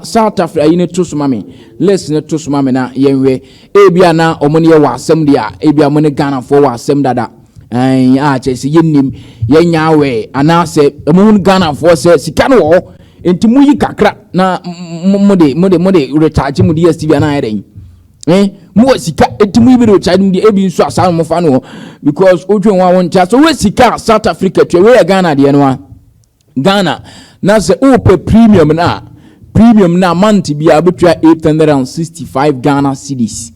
saa tafere ayi no to so ma me list no to so ma me na yɛnhwɛ ebi a na wɔn ne yɛ wɔ asɛm deɛ ebi a wɔn ne ghanafoɔ wɔ asɛm dada ɛn a kyerɛ sɛ yɛnnim yɛnya awɛ anaasɛ wɔn hu ghanafoɔ sɛ sika no wɔ hɔ nti mo yi kakra na mo de mo de mo de recharge mo de stv anaa ɛdɛn ɛn eh, mo wɔ sika nti mo yi bi de recharge mo de ebi nso asaa mo fa no hɔ because wotwe wɔn a wɔn nkyɛn so wɔ sika south africa tua wei yɛ ghana deɛ no a. Ghana, na sɛ wopɛ premium no a, premium no a month biara wobɛtua 865 Ghana cedis.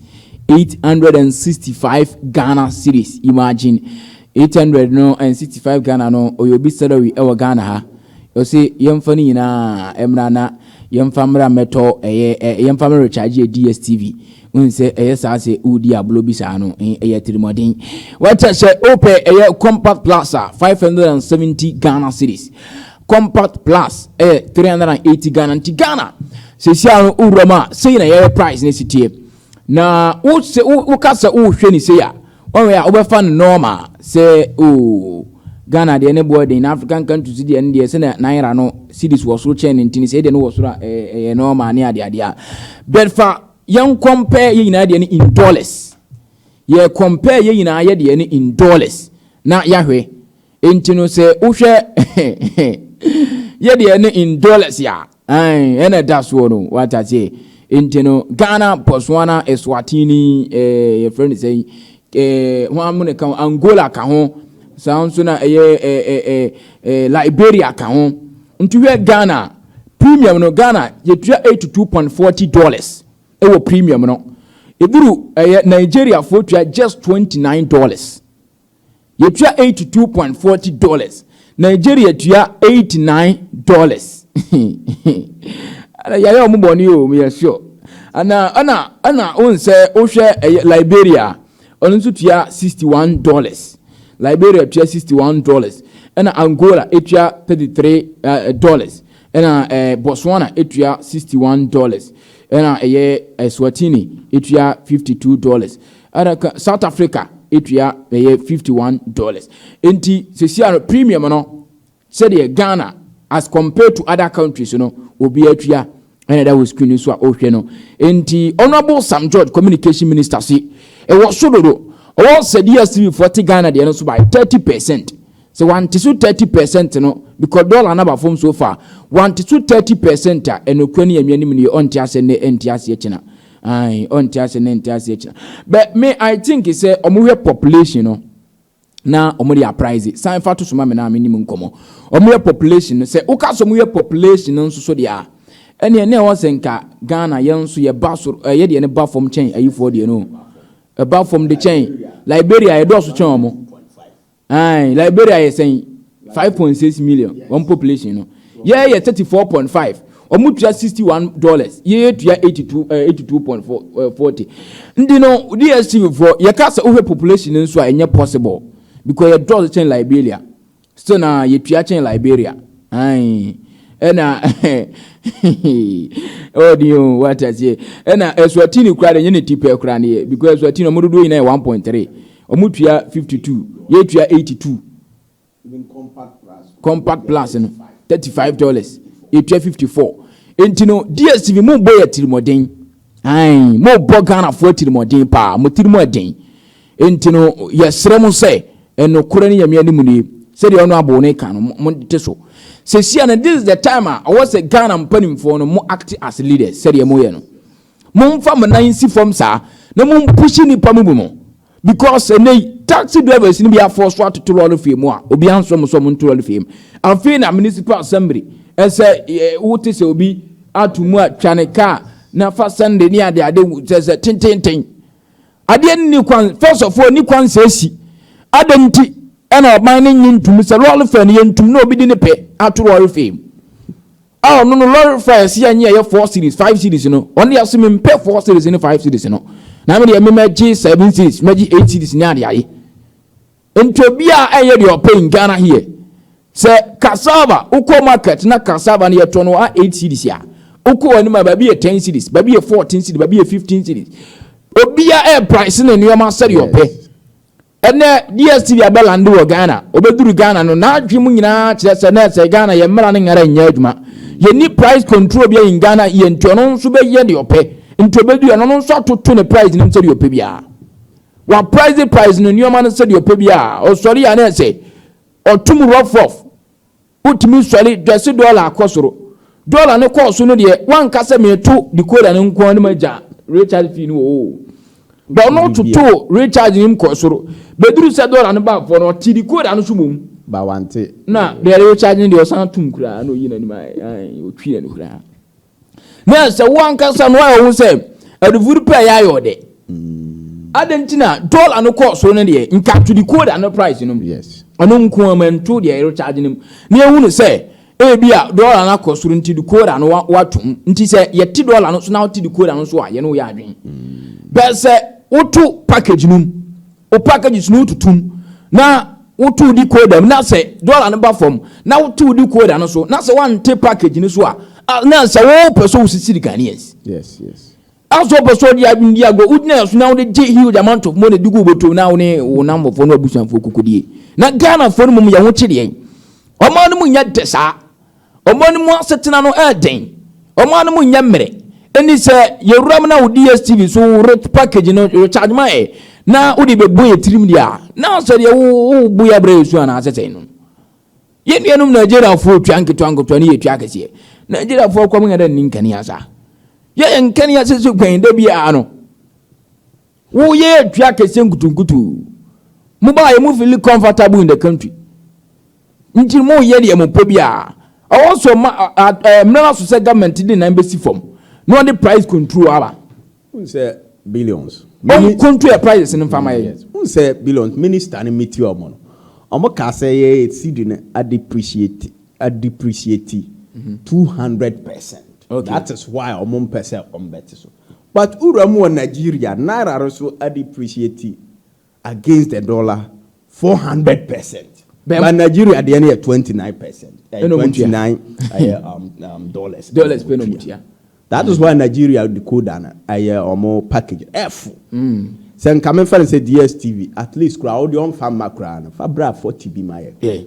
865 Ghana cedis, imagine. 800 no and 65 Ghana no, ɔyɛ obi salary wɔ Ghana ha. Ɔse yɛmfa no nyinaa mmra na yɛmfa mmra mmɛtɔ ɛyɛ yɛmfa mmra recharge yɛ DSTV. Wohu sɛ ɛyɛ saa sɛ wodi agorɔ bi saa no, ɛyɛ atirimuɔden. Wata sɛ wopɛ ɛyɛ compact plus a, 570 Ghana cedis. Compact plus ɛyɛ 380 Ghana nti Ghana sesia no wowura mu a, sei na ɛyɛ price no si teɛ. Na woka sɛ wohwɛ ne sei a, Ɔwɛ a wobɛfa no normal sɛ oo Ghana deɛ ne boɔ den na African countries deɛ no deɛ sɛ na naira no cedis wɔ soro kyɛn ne nti no sɛ deɛ no wɔ soro a ɛyɛ normal ne adeɛ adeɛ a but fa yɛn compare yɛn nyinaa deɛ no in dollars yɛ compare yɛn nyinaa yɛ deɛ no in dollars na yɛahwɛ Enti no sɛ wohwɛ yɛdeɛ no in dollars a ɛna ɛda soɔ no wata aseɛ nti no Ghana Botswana Eswatini eh, yɛfrɛ no sɛ eh, ho amu ne ka ho Angola ka ho saa nso na ɛyɛ eh, eh, eh, eh, Liberia ka ho nti hwɛ Ghana premium no Ghana yɛtua 82.40 dollars ɛwɔ premium no ɛduru ɛyɛ Nigeriafoɔ tua just 29 dollars Yɛtua eighty two point forty dollars. Nigeria tua eighty nine dollars. Yɛayɛ wɔn bɔne o, meyɛ sure. Ana ɛna ɛna wɔn sɛ wohwɛ ɛyɛ Liberia, ɔno nso tua sixty one dollars. Liberia tua sixty one dollars. Ɛna Angola etua thirty three eh, dollars. Ɛna ɛɛ eh, Botswana etua sixty one dollars. Ɛna ɛyɛ Eswatini etua fifty two dollars. Ɛna ka South Africa etua bɛyɛ fifty one dollars. Nti sisi ano premium no sɛdeɛ Ghana as compared to other countries no obi atua ɛna ɛda wɔ screen so a ɔhwɛ no. Nti Honourable Sam George communication minister se ɛwɔ so dodo ɔwɔ sɛ DSTV foɔ te Ghana deɛ no so by thirty percent. Sɛ wante so thirty percent no because dollar no aba fam so far wante so thirty percent a ɛnokorɛ ne yɛn nua no mu nie ɔnte aseɛ nnɛ ɛnte aseɛ kyena. Ae ɔnte ase ne nte ase akyina. But me I think sɛ ɔmo hwɛ population no na ɔmo de aprize. San fa to so ma me na me nim nkɔmɔ. Ɔmo hwɛ population no sɛ woka sɛ ɔmo hwɛ population no nso so deɛ a ɛneɛ na ɛwɔ sɛ nka Ghana yɛn nso yɛ ba soro ɛyɛ deɛ no ba fam kyɛn ayifoɔ deɛ no ɛba fam de kyɛn Liberia yɛdɔɔso kyɛn ɔmo. Ae, Liberia yɛ sɛn? 5.6 million wɔn population no. Yɛɛ yɛ 34.5. Wɔn tua 61 dollars. Yɛɛ tua 82 ɛɛ 82.40. Ndi no DSTV fo yɛ ka sɛ wohwɛ population no nso a ɛnyɛ possible because yɛ dɔɔso kyɛn Liberia. Still na yɛ tua kyɛn Liberia. Ae, ɛna oh dear oh what a say ɛna Eswatini kura de nye ne tipɛ kura ne yɛ because Eswatini wɔn dodoɔ nyinaa yɛ 1.3. Ɔmo tua fifty two yɛ tua eighty two compact plus no thirty five dollars yɛ tua fifty four nti no dstv mo bɔ yɛ atirimɔden ayi mo bɔ ghana fo atirimɔden paa mo tiri mo ɛden nti no yɛ srɛ mo sɛ ɛno korɛ ne yɛmea ne mu nie sɛdeɛ ɔno abo ne ka no mo te so sɛsia no this is the time a ɔwɔ sɛ ghana mpanimfoɔ no mo act as leaders sɛdeɛ mo yɛ no Momfa mo nan nsi fam saa na mompushi nnipa mo mu no because ɛnɛ yi taxi drivers no bi afɔɔso atoto lɔre fee mu a obi ansrɛ mo sɛ ɔmo nto lɔre fee mu. Afei na municipal assembly ɛsɛ wote sɛ obi ato mu a twa ne kaa na fa sɛnde ne ade ade sɛ sɛ tententen. Adeɛ no ni kwan first of all ni kwan sɛ esi. Adɛn nti ɛna ɔman no nye ntumi sɛ lɔre fee no yɛntum na obi de ne pɛ ato lɔre fee mu. A ɔno no lɔre fa ɛsi yɛ nye ɛyɛ four series five series no ɔno deɛ so mempɛ four series ne five series no na me deɛ me mɛgye seven series mɛgye eight series ne ade aye nti obi a ɛyɛ deɛ ɔpɛ in Ghana here sɛ cassava wokɔ market na cassava no yɛtɔ no a eight series a wokɔ wɔ anim a baabi yɛ ten series baabi yɛ fourteen series baabi yɛ fifteen series obi a ɛyɛ price ne nneɛma sɛdeɛ ɔpɛ Ɛnɛ DSTV abɛ lande wɔ Ghana. Obeduru Ghana no, n'adwene mu nyinaa kyerɛ sɛ na ɛsɛ Ghana yɛn mmara no nyara nyɛ adwuma. Yɛnni price control bia in Ghana here nti ɔno nso bɛyɛ deɛ ɔpɛ. Nti obeduru yɛ no, ɔno nso atoto ne price no mu sɛdeɛ ɔpɛ biara. Wa price price no nneɛma no sɛdeɛ ɔpɛ biara. Ɔsɔre a na ɛsɛ ɔtom rough rough. Wotumi sɔre dwɛse dɔla kɔ soro. Dɔla no kɔɔ so no deɛ, wanka sɛ meto decoder no nko ara na magya recharge fee no oo. But ɔno totoo recharge no mu kɔɔ soro. Bɛduruu sɛ dɔla no baa fam no, ɔtee decoder no so mmom. But wante. Na deɛ recharge no deɛ, ɔsan toom koraa na ɔyii n'anim ayɛ, ae, ɔtwii n'ani koraa. na ɛsɛ wo ankasa no ayɛ wo sɛ adufo no pɛ yɛ ayɛ ɔdɛ mm. adɛn nti na dɔla no kɔɔ so no deɛ nka to decoder no price no mu ɔno nko ama nto deɛ ɛrecharge no mu na ɛhu no sɛ ebi a dɔla no akɔ soro nti decoder no watom nti sɛ yɛte dɔla no so na wote decoder no so a yɛne woyɛ adwen mm. bɛɛ sɛ woto package no mu wo packages no wotutu mu na wotow decoder mu na sɛ dollar no ba fam na wotow decoder no so na sɛ wante package no so a na sɛ wopɛ sɛ wosisi Ghanaians yes yes aso wopɛ sɛ ɔde adwene di agorɔ wogyina ɛso na wode gye huge amount of money de gu wobɔtom na wo ne wo namfofoɔ no abusuafoɔ kokodie na Ghanafoɔ no mmom yɛ ho kyedeɛ ɔma no mu nyɛ dɛ saa Wɔn anim asetena no yɛ den. Wɔn anom nyɛ mmerɛ. Ɛnti sɛ yɛwuram na wo DSTV so wo rec package no recharge ma yɛ na wode bɛbɔ yɛ tirim deɛ a, na sɛ deɛ wobo yɛ abrɛ yɛ su anaa sɛsɛn no. Yɛn nuanom Nigeriafoɔ tua nketewa nketewa ne yɛtua akɛseɛ. Nigeriafoɔ akwa mu yɛ dɛ nni nkanea saa. Yɛyɛ nkanea sese kwan da biara no. Wo yɛ yɛ dua kɛseɛ nkutunkutu. Mo ba yɛ mo fili comfortable in the country. Nti mo yɛ deɛ mo pɛ biara. Ɛwɔ so ma mmerɛ no so sɛ government de nan bɛsi fam na ɔde price control aba. Wohu sɛ billions. Ɔn control yɛ prices no nfa ma yɛn. Wohu sɛ billions minister no meet wɔn no wɔn kaa sɛ yɛ yɛ cedi no adepreciate adepreciate two hundred percent that is why wɔn mpɛ sɛ wɔn bɛte so. But wo wura mu wɔ Nigeria naira no so adepreciate against the dollar four hundred percent but Nigeria deɛ no yɛ twenty nine percent ɛyɛ eh, twenty nine ɛyɛ eh, um, um, dollars dollars pɛ na ɔmo tua that is why Nigeria decoder no ɛyɛ eh, ɔmo package ɛfo mm. sɛ nka mefa no sɛ DSTV at least koraa ɔde ɔnfa mma koraa no fa bra forty bi ma yɛ.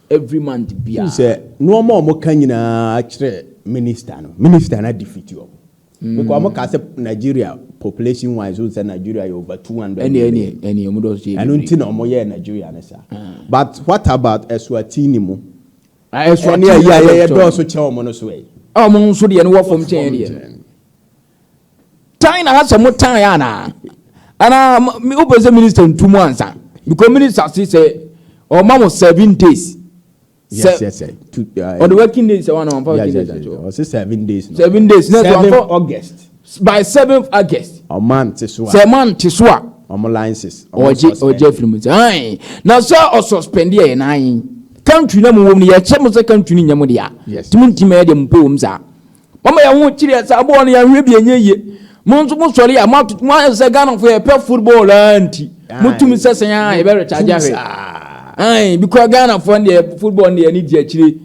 every month bia. Wohu sɛ nnoɔma a wɔka nyinaa kyerɛ minister no, minister no adefeat wɔn. Because wɔn kaa sɛ Nigeria population wise wohu sɛ Nigeria yɛ over 200 Ɛne ɛne million. ɛne ɔmo dɔɔso yɛ Ɛno bebree. nti na wɔn yɛɛ Nigeria no saa. But what about Eswatini mu? Ah, Ɛne Eswatini ɛyi a na yɛyɛ dɔɔso. dɔɔso kyɛn wɔn no so ɛ? A ɔmo nso deɛ no wɔ fam kyɛn yɛn deɛ no. tan na asɛ mo tan ya na ana me open sɛ minister ntu mu ansa because minister say sɛ ɔma mo seven days yes yes sir two uh, or the working days sɛ wana wampa working days ankyɛ ɔsɛ seven days no seven days na seven august by seventh august ɔma nte so a sɛ ma nte so a ɔmo licenses ɔgye ɔgye firi mu sɛ ayi na sɛ ɔsɔspɛndi yɛ na ayi country na mu wɔm no yɛ kyɛ mo sɛ country ni nyɛ mo deɛ a tumi ntumi yɛ deɛ mo pɛ wɔm saa. Mama yɛn ho kyere yɛn saa bɔɔl no yɛn hwɛ bi ɛnyɛ yie mo nso mo sɔre a mo atoto mo ayɛ sɛ Ghana fo yɛ pɛ football aa nti mo tumi sɛ sɛn aa yɛ bɛ recharge ahwɛ ae because Ghana fo no deɛ football no deɛ yɛn di akyire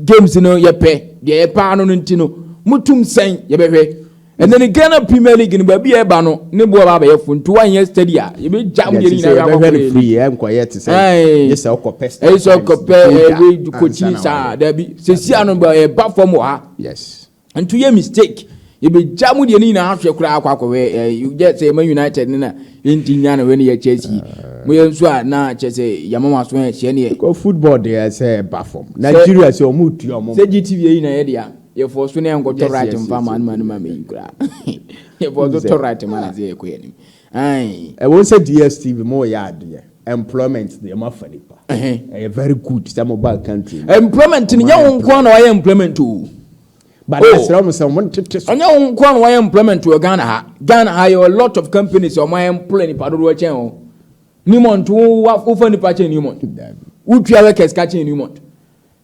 games no yɛ pɛ deɛ yɛ paa no no nti no mo tumi sɛn yɛ bɛ hwɛ And then Ghana Premier League no baabi a ɛba no ne boɔ ba abɛyɛ fo nti wanyɛ steady a yɛbɛgya mo deɛ nyinaa yɛbɛhwɛ no free ɛnkɔyɛ te sɛ ɛyɛ sɛ ɔkɔpɛ ɛyɛ sɛ ɔkɔpɛ ɛyɛ kɔkyi saa dabi sɛsi ano ba ɛba fam wɔ ha Yes. Ntu yɛ mistake. Yɛbɛgya mu deɛ ne nyinaa ahwɛ koraa akɔ akɔhwɛ yɛ sɛ yɛma United no na yɛnti nya no wɛ ne yɛ Chelsea. Mo yɛ nso a na kyɛ sɛ yɛma wɔn aso ɛhyɛ ne yɛ. Kɔ football deɛ sɛ ɛba fam. Nigeria sɛ wɔn retua wɔn. Sɛ GTV yɛ nyinaa yɛ deɛ yɛ fɔ so ne yɛn kɔ tɔ right mfa ma no ma no ma mɛyi koraa. Yɛ fɔ so tɔ right ma na sɛ yɛ kɔ yɛ nim. Ae. Ɛwom sɛ DSTV mo yɛ adeɛ employment deɛ mo afa nipa ɛyɛ very good sɛ mo baa country mu. Employment no nyɛ wo nko ara na wayɛ employment o. But oh, ɛsrɛ mo sɛ mo ntete so. Ɛnyɛ wo nko ara na wayɛ employment wɔ Ghana ha. Ghana ha yɛ a lot of companies a wɔayɛ employ nipa dodoɔ kyɛn o. Newmont wo wofa nipa kyɛn Newmont. Wotua workers ka kyɛn Newmont.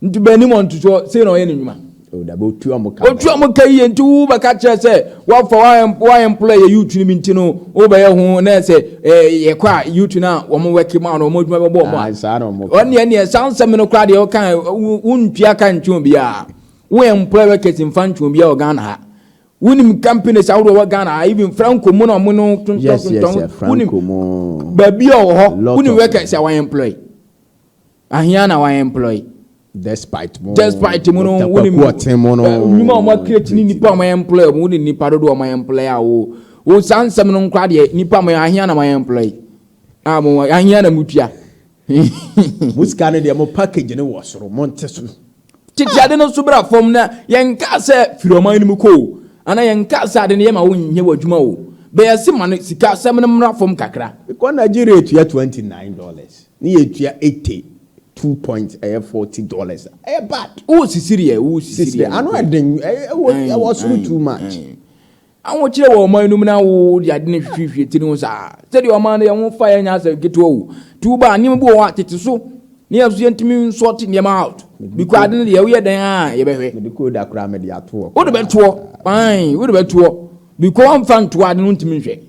Nti bɛn anim ɔntosoɔ, sei na ɔyɛ ne nnwuma. O dabi, ɔtua wɔn ka. Ɔtua wɔn ka yie, nti wo bɛka kyerɛ sɛ wafa w'ahempolo a ɛyɛ youth no bi nti no wobɛyɛ ho na sɛ yɛkɔ a youth no a wɔn wɛke ma no wɔn adwuma bɛbɔ wɔn a. Saa na wɔn kɔ. Ɔne ɛneɛ saa nsɛm no koraa deɛ ɔka wontua ka ntwe obiara. Wo employ workers mfa ntwe obiara wɔ Ghana ha. Wonim companies ahodoɔ wɔ Ghana ha even Franco mu na wɔn no tontɔn tontɔn. Wonim baabi a ɔwɔ hɔ wonim workers a wɔn employ. Ahia na wa employ. Despite mo Despite mo no wo ne tapaku ɔten mo no. Nnwuma a wɔn akireti ne nipa a wɔn employ wɔn wo ne nipa dodo a wɔn employ a wo wo saa nsɛm no nkora deɛ nipa a wɔn ahia na wɔn employ a mo ahia na mo tua. Mo sika no deɛ mo package no wɔ soro mo nte so. Tete ade no nso bra fam na yɛnkaa sɛ firi ɔman no mu kɔ o, anaa yɛnkaa sɛ ade no yɛ ma wonyɛ w'adwuma o. Bɛyɛ se ma no sika asɛm no mmra fam kakra. Mekɔ Nigeria tua twenty nine dollars ne yɛtua ete two points ɛyɛ forty dollars a, ɛyɛ bad. Wo sisiri ɛ, wo sisiri ɛ. Sisiri ɛ, ano ɛden, ɛwɔ soro too much. Ahokyerɛ wɔ ɔman no mu na wo de ade no hwehwehwie tiri ho saa. Sɛdeɛ ɔman no yɛ ho faeɛ nyɛ asɛm ketewa o. Tuo ba a, nneɛma bi wɔ hɔ a tete so na yɛn nso yɛntumi nsɔɔte nneɛma out because ade no deɛ woyɛ dɛn a yɛbɛhwɛ. Mede kooda koraa mede ato hɔ koraa. Wode bɛtoɔ, fine, wode bɛtoɔ because wɔmfa ntoɔ ade no wontumi nhwɛ.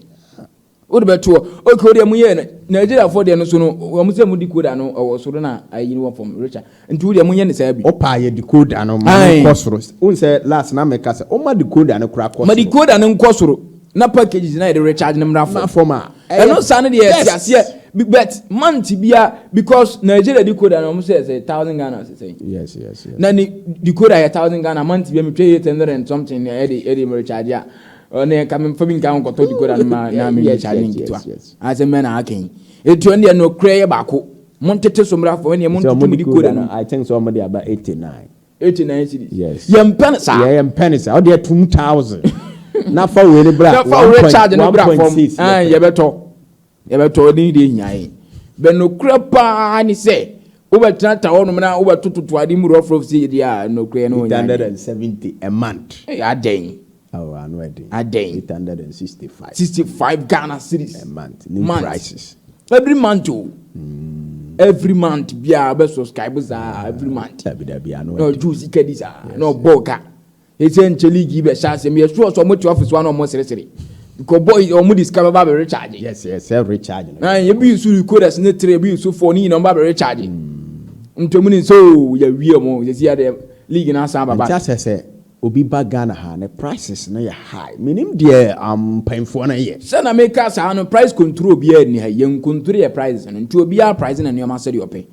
Wode bɛto hɔ. Okay wodeɛ mo yɛ Nigeria foɔ deɛ no so no wɔn sɛ mo decoder no ɛwɔ soro na ayi no wɔ fam Richard nti wodeɛ mo nyɛ no saa bi. Opaa yɛ decoder no ma no nkɔ soro wohu sɛ last na meka sɛ ɔma decoder no koraa kɔ soro. Ma decoder no nkɔ soro na packages na yɛde recharge no mmra fam. Fam a ɛyɛ best. Ɛno saa no deɛ yɛte aseɛ but month bia because Nigeria decoder no wɔn sɛ sɛ thousand Ghana sɛ sɛn. Yes yes yes. Na ne decoder yɛ thousand Ghana month bia metwa eight hundred and something ɛde ɛde recharge a. Ɔno deɛ nka memfa bi nka nkɔtɔ decoder no ma na me recharge ne nketewa asɛm bɛn na aka yi eti ɔno deɛ nokorɛ yɛ baako mo ntete so mmra fam ɛneɛ mo ntutu mo decoder no I think sɛ ɔmo de aba eighty nine eighty nine cities yes yɛmpɛ no saa yɛmpɛ no saa ɔdeɛ two thousand na fa wei no bra na fa wei recharge no bra fam yɛbɛtɔ. Yɛbɛtɔ wo din de ahia yɛn. Bɛ nokorɛ paa ne sɛ, wobɛtenatena hɔnom na wobɛtototo ade mu rɔfrɔf sɛ yɛn deɛ a, nokorɛ yɛne wo nyɛ adeɛ. 870 a month. Ei, adɛn? Oh, ano yɛ den. Adɛn? 865. 65 Ghana cedis. A month, new Month. prices. Every month o. Every month biara bɛ subscribe saa every month. Dabi dabi, ano Na yɛ den. ɔgye wo sika di saa, Yes, na ɔbɔ wo ka. Ese nkyɛ league yi bɛhyɛ ase meyɛ sure sɛ ɔmo te office wa na ɔmo seresere because boy ɔmo de sika bɛba abɛ recharge. Yes yes sɛ recharge no. Ae ebi nso recoders ne three ebi nso four ne nyina ɔmo ba abɛ recharge nti ɔmo nim sɛ oo yɛawie ɔmo sɛsi yɛ deɛ league no asan aba back. Nti asɛ sɛ obi ba Ghana ha ne prices no yɛ high menim deɛ um mpanyinfoɔ no yɛ. Sɛ na me ka saa no price control biaa nni ha yɛn control yɛ prices no nti obiaa price ne nnoɔma sɛdeɛ ɔpɛ.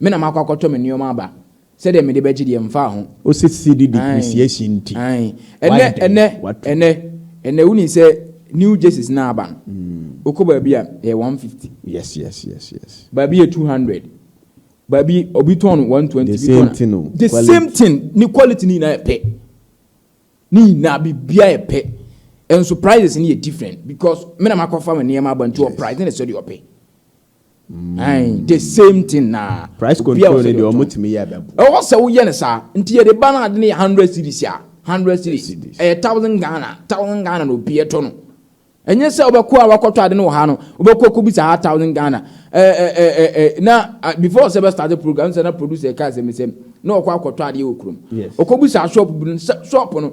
Me na makɔ akɔtɔ me nneɛma aba. Sɛdeɛ mede bɛgye deɛ, mfa ho. Ɔsɛ sidi depreciation nti. Ae. Ɛnɛ, ɛnɛ, ɛnɛ, ɛnɛ wonim sɛ new jerseys no a aba no, wokɔ baabi a, ɛyɛ one fifty. Yes, yes, yes, yes. Baabi yɛ two hundred. Baabi, obi tɔn no one twenty. The same thing o. The same thing. Ne quality no nyinaa yɛ pɛ. Ne nyinaa, biribiara yɛ pɛ. Nso prices no yɛ different because me na makɔfa me nneɛma aba nti ɔprice no yɛ sɛdeɛ ɔpɛ. Ae the same thing na. Price control no deɛ ɔmo tumi yɛ bɛbo. Ɛwɔ sɛ woyɛ no saa nti yɛde ba no ade no yɛ hundred series a hundred series ɛyɛ thousand Ghana thousand Ghana na obi ɛtɔ no ɛnyɛ sɛ wobɛkɔ a wakɔtɔ ade no wɔ ha no wobɛkɔ akɔ bisa ha thousand Ghana ɛɛ ɛɛ ɛɛ na before sɛ bɛ start program sɛ na producer ɛka sɛm sɛm na ɔkɔ akɔtɔ adeɛ wɔ kurom ɔkɔ bisa shop bi no shop no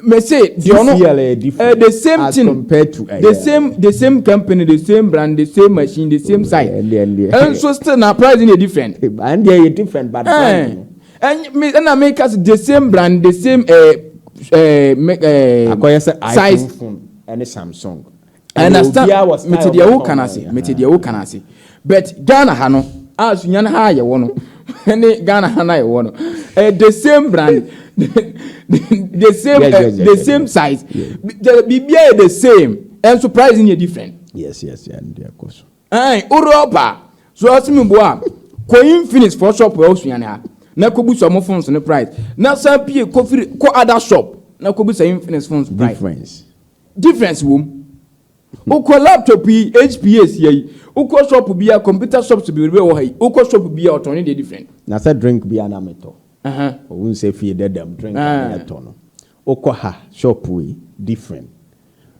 Me se deɛ ɔno eh, the same as thing compared to the same the same company the same brand the same machine the same size and so still na price no yɛ different and deɛ yɛ different but eh, and me and I make us the same brand the same eh, eh, eh, akɔyɛ sɛ iphone phone ɛne samsung I understand. Mete deɛ woka no ase. Mete deɛ woka no ase. But Ghana ha no, a Sunyani ha a yɛwɔ no, ne Ghana ha no a yɛwɔ no, eh, the same brand, the same, yes, eh, yes, yes, the yes, same yes. size. Yes. Biribiara yɛ the same. And surprise yɛ different. Yes, yes, yes. Ndi akɔ so. Ɛn, Europa, so ɔsi mi bo a, kɔ Infinix for shop wɔ Sunyani ha. Na kɔ bu sɔmɔ phones no price. Na san pie kɔ firi kɔ other shop. Na kɔ bu sɛ Infinix phones price. Difference. Difference wɔ mu. Wokɔ laptop yi, HP yi ɛsi ha yi, wokɔ shop biara, computer shops bebrebe wɔ ha yi, wokɔ shop biara ɔtɔn ne deɛ different. Na sɛ drink biara na me tɔ, wohu sɛ fie dada mu drink a na yɛ tɔ no, wokɔ ha shop yi different,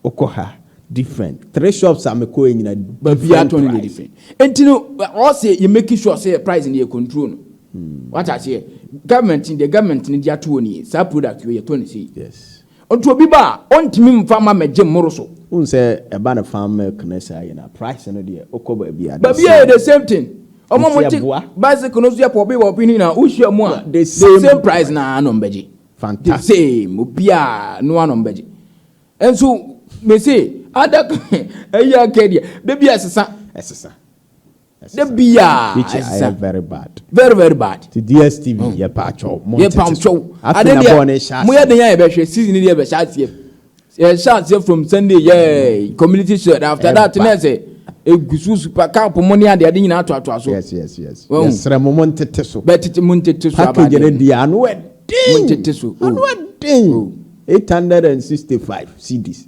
wokɔ ha different, three shops a me kɔɛ nyina different price. Baabia tɔ ne deɛ different. Nti no ɔsɛ yɛ make sure sɛ yɛ price no yɛ control no. Wate aseɛ? Government no deɛ government no de ato hɔ nie, saa product wei yɛ tɔ ne sei. Yes. Nti obi ba a, ɔntumi mfa mma me gye mmoro so. Wohu sɛ ɛba no farm milk no saa yi no a, price no deɛ, wokɔ baabi a, the Baabi a yɛ same. the same thing. Wɔn a Nti wɔte ɛboa. bicycle no so yɛ pɔpi pɔpi no nyinaa, wohyia mu a, The the same same price price. na ara na wɔbɛgye. The Fantastic. same, obiara no ara na wɔbɛgye. Nso mese, ada ɛyi aka deɛ, da bi ɛsesa. Ɛsesa. Da biaa ɛsesa very bad very very bad. Ti DSTV mm. yɛ pa twɛw mo yɛ pa twɛw ade deɛ mo yɛ den a yɛbɛhwɛ season deɛ bɛhyɛ aseɛ yɛhyɛ aseɛ from Sunday yɛ mm. community shirt after that na ɛsɛ egusu super cup mo ne adeɛ ade nyinaa ato ato aso. yes yes yes yɛsrɛ mo mo ntete so bɛɛ tete mo ntete so abadeɛ package ne deɛ ano ɛden mo ntete so ano ɛden eight hundred and sixty five cedis.